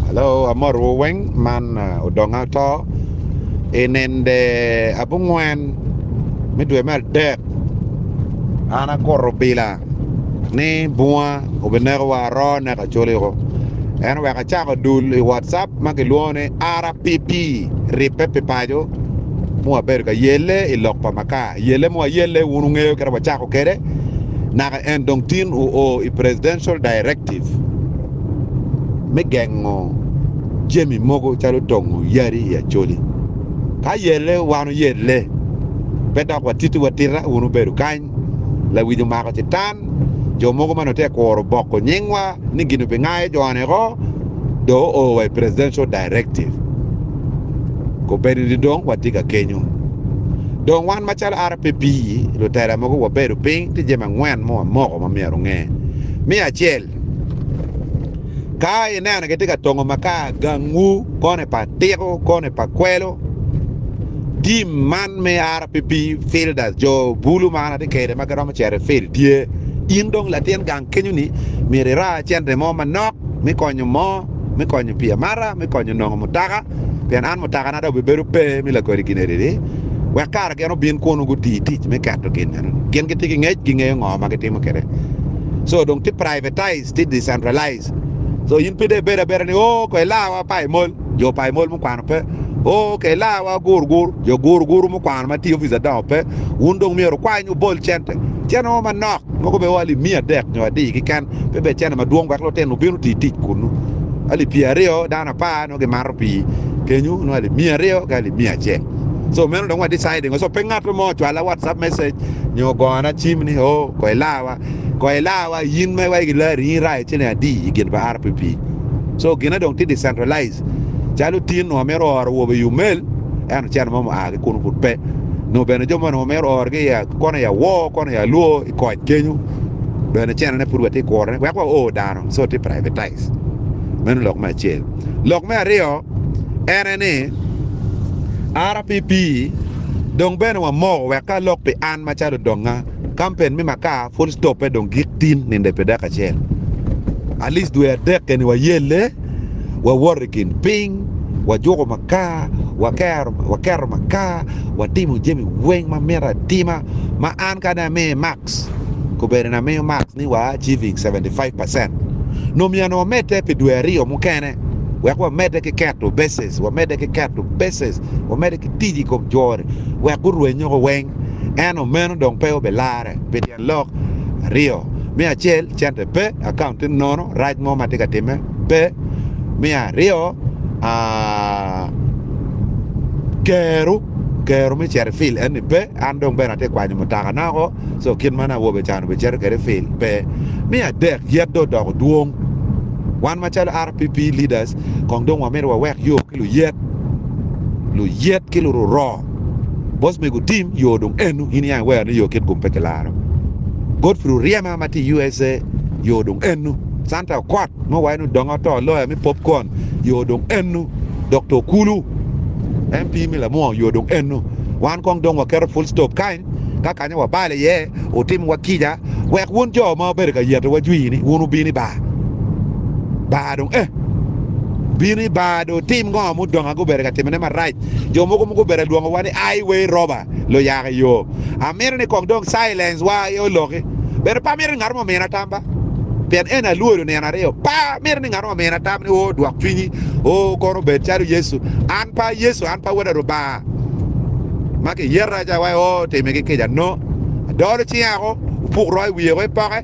Alo amotowu weng man odongo ato i nende abongwen me dwe me adek an akuto bila ni bunga obinekowa aro neko acoli woko ento wek acako dul i watcap ma kilwongo ni RPP ribbe pi paco ma wabedo ka yelle i lok pa Makar yelle ma wayelle wun wungeyo kit ma wacako kwede naka En dong tin oo i Presidential Directive me gengo jami mogo calo tongo yadi i Acholi. Ka yelle wan oyelle, pe dok watiti watita wun wubedo kany. Lawic omako citan, jo mogo ma nongo tye ka kuro boko nyingwa ni gin obingayo jo-ni oko dong oo wa i Presidential Directive. Kobedi ni dong watye ka kenyo. Dong wan macalo RPP lutela mogo wabedo piny tye jami angwen ma wamoko ma myero wunge. Me acel, ka ineno kitye ka tongo makar gangwu koni pa tiko koni pa kwelo, tim man me RPP fielders jo bulu ma an atye kede ma giromo cito i field tye. In dong latin gang kenyo ni myero ira cente mo manok me konyo mo me konyo pi amata, me konyo nongo mutaka, pien an mutakana dong bibedo pe me lakodi giniriri, wek kara gin obin kunu guti tic me keto gin meno. Gin gitye ki ngec, gingeyo ngo ma gitimo kede. So dong ti privatized, ti decentralized. So in pe de ibed abeda ni, oh ko ilawa pa imol, jo pa imol mukwano pe. Oh ke ilawa gur gur, jo gur guru mukwano ma ti ofice adongo pe. Wun dong myero wukwany wubol cente. Cente mo manok, mogo be o alip miya adek nyo adi keken. pe bed cene madwong wek lutino obin oti tic kunnu. Alip pyeri aryo dano apar nongo gimato pii kenyu nongo alip miya aryo ki alip miya acel. So meno dong wa deciding so pe ngato mo ocwala WhatsApp message nyo gona cim ni oh ko ilawa ko ilawa in ma iwaco gilari in irayo ciling adi i gin pa RPP. So gine dong tye decentralized calo tin nongo mito oro awobe i Umel ento cene mo mua ki kunu pud pe nongo bene jo mo nongo mito oro ki kono i Awor kono i Alwor. I koc kenyo bene cene ne pud watye kure wek wa or dano so tye privatize meno lok me acel lok me aryo ene ni RPP dong bene wa moko wek ka lok pi an macalo donga kampen me makar full stop pe dong gik tin ninde pi dek acel at least dwe adek keni wa yelle. wawoto i kin piny, wajuko makar, waketo makar, watimo jami weng ma mito atima, ma an kadi amiyo max, kobedoni amiyo max ni wa achieving seventy five percent, nongo myero ni wamedde pi dwe aryo mukene wek wamedde ki keto bases, wamedde ki keto bases, wamedde ki tic i kom jori wek gurwenyo ko weng, ento meno dong pe obilarre pi tyen lok aryo. Me acel, Cente pe, akaunte nono, rac mo ma atye ka timme pe. Me aryo, kero, kero me cito i fil enni pe. An dong bene atye ka kwanyo mutakana woko, so kit ma nongo awobe ca-ni obicito kwede i fil pe. Me adek, yat dong odoko dwong. Wan macalo RPP leaders kong dong wamito wawek yo ki luyet, luyet ki lururoo. Boss mego Tim yoo dong enu in iyange wero ni yoo kit gum pe kilaro. Godfrey Oryema ma tye usa yoo dong enu. Santa Okot ma owaco ni odonge oto loya me popcorn yoo dong enu. Doctor Okulu MP me Lamwongo yoo dong enu. Wan kong dong waketo full stop kany ka kanya wabalo iye otim wa kica wek wun joo ma wabedo ka yeto wa jwii ni wun wubino i bar. Bar dong eh. Bino i bar dong otim ngo ma odongo aye gubedo ka timone marac. Jo mogo mogo obedo adwongo wa ni ai wei roba lo yaka i yo. Amito ni kong dong silence wa aye oloki. Bene pe amito ni ngat mo omina tam ba. Pien eni alwodo nino aryo. Pe amito ni ngat mo omina tam ni oo dwok cwinyi, oo kono obed calo Yecu. An pe a Yecu, an pe a wota Rubanga ma ki yeta ca wai oo time ki kica. No. Adolo cinga ko, opuk roo i wiye ko ipoke.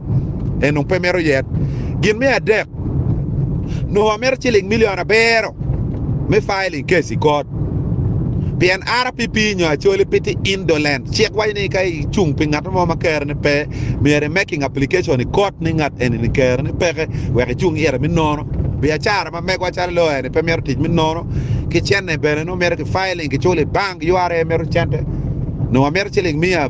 en nongo pe mito yet. Gin me adek, nongo wamito ciling milion abiro me filing case i kot. Pien RPP nyo actually piti indolent. Cik waco ni ka icung pi ngat mo ma kere ni pe, myero i making application i kot ni ngat eni ni kere ni peke wek icung ite me nono. Biacara ma megwa calo lawyer ni pe mito tic me nono ki cene bene nongo mito ki filing ki culo i bank, ura mito cente. Nongo wamito ciling mia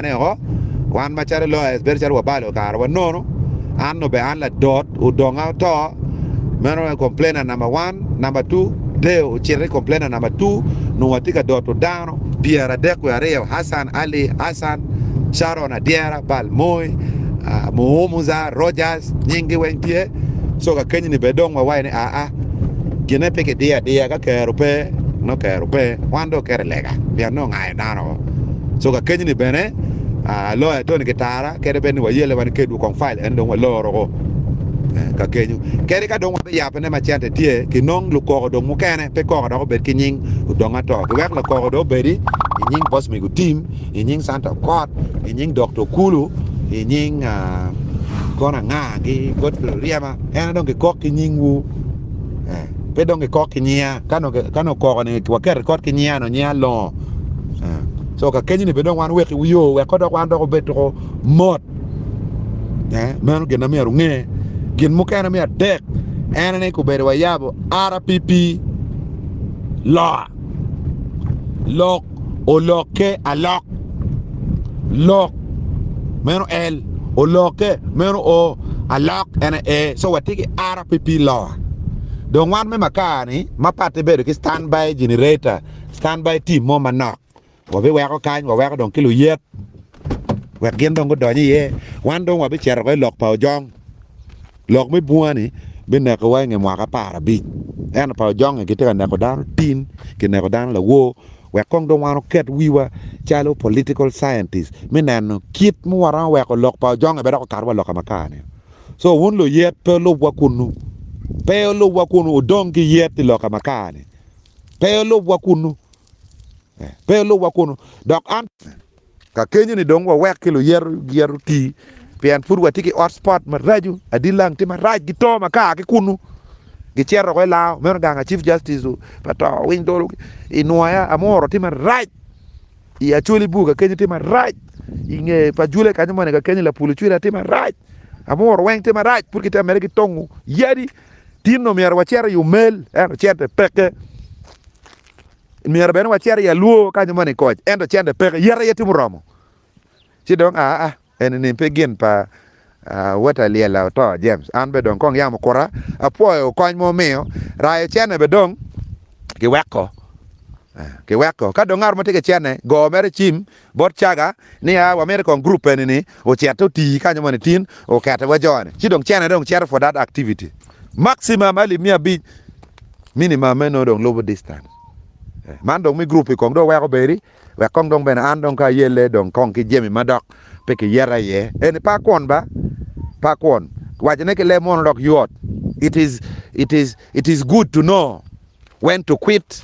Ane woko, wan macalo lawyers bedo calo wabalo kare wanono, an obe an ladot odonga oto, meno aye complainer number one, number two Deo ocito ki complainer number two nungo atye ka doto dano pyera adek wiye aryo Hassan Ali Hassan, Sharon Adyera, Bal Moi, Muhumuza, Rogers nying gi weng tye so kakenyi ni bene dong wawayi ni aa gine pe kidiyo adiya ka kero pe nongo kero pe wan dong oketo i lega pien nongo me dano. So kakeny ni bene loya Tony Kitara kede bed ni wayelle wa nikedwu kong file eni dong waloro ko ka kenyu. Kadi ka dong wabiyape ne ma cente tye kinong lukoko dong mukene pe koko dok obed ki nying odong ato giwek lakoko dong obedi i nying Boss Migo Tim, i nying Santa Okot, i nying Dokta Okulu, i nying kono anga ki Godfrey Oryema ene dong kikok ki nyingwu. pe dong kikok ki nyinga ka nongo ka nongo koko ni waket rikot ki nyinga nongo nyinga longo so ka kenyo ni pe dong wan wek yo wek dok wan dok obed tuko mot meno gin ma myero nge gin mukene me adek en ni kubedo wayabo RPP loa lok olokke alok lok meno L olokke meno O alok ene A so watye ki ara pi pi lowa dong wan me makar-ni ma patte bedo ki stand by generator stand by team mo manok wabiweko kany waweko dong ki luyek wek gin dong gudony iye wan dong wabicito woko i lok pa ojong. Lok me bunga-ni binekowa i nge mwaka apar abic. Ento pa ojongnge gitye ka neko dano tin, gineko dano lawor, wek kong dong wan wuket wiwa calo political scientists me neno kit ma waromo weko lok pa ojongnge pe dok okato wa loka makar-ni. So wun luyet pe wulubwa kunnu. Pe wulubwa kunnu, wudong ki yet i loka makar-ni. Pe wulubwa kunnu. Pe wulubwa kunnu. Dok an. Ka kenyo-ni dong wawek ki luyeto giya oti, pien pud watye ki hot spot maraco. Adi lang tye marac ki to ma ka ki kunnu gicito woko i Lao. Meno gang a Chief Justice pa to winy dolo i Nwaya. Amuro tye marac i Acholi bur ka kenyo tye marac. I nge pa Jule kanyo moni ka kenyo Lapulu Cwira tye marac. Amuro weng tye marac pud kitye ka medde ki tongo yadi. Tinno myero wacit i omel ento cente peke. Myero bene wacit i alwor ka nyo moni koc, ento cente peke, yet aye tye muromo. Ci dong, aa, eni-ni pe gin pa Weta Lyella oto, James. An bene dong kong yam okuta. Apwoyo kony ma wumiyo. Rayo cene bene dong kiweko. Kiweko. Ka dong ngat mo tye ki cene, go mere cim. Bot caga niya wa miti kong group eni ni ocette otii kanyo moni tin okete wa joni ci dong cene dong cito for that activity maximum alip miya abic minimum me nongo dong lubu distance man dong mi group kong dong weko bedi wek kong dong bene an dong ka ayelle dong kong ki jemi madok pe ki yeta iye eni pa kwon ba pa kwon wacone ki leb mono dok yot it is it is it is good to know when to quit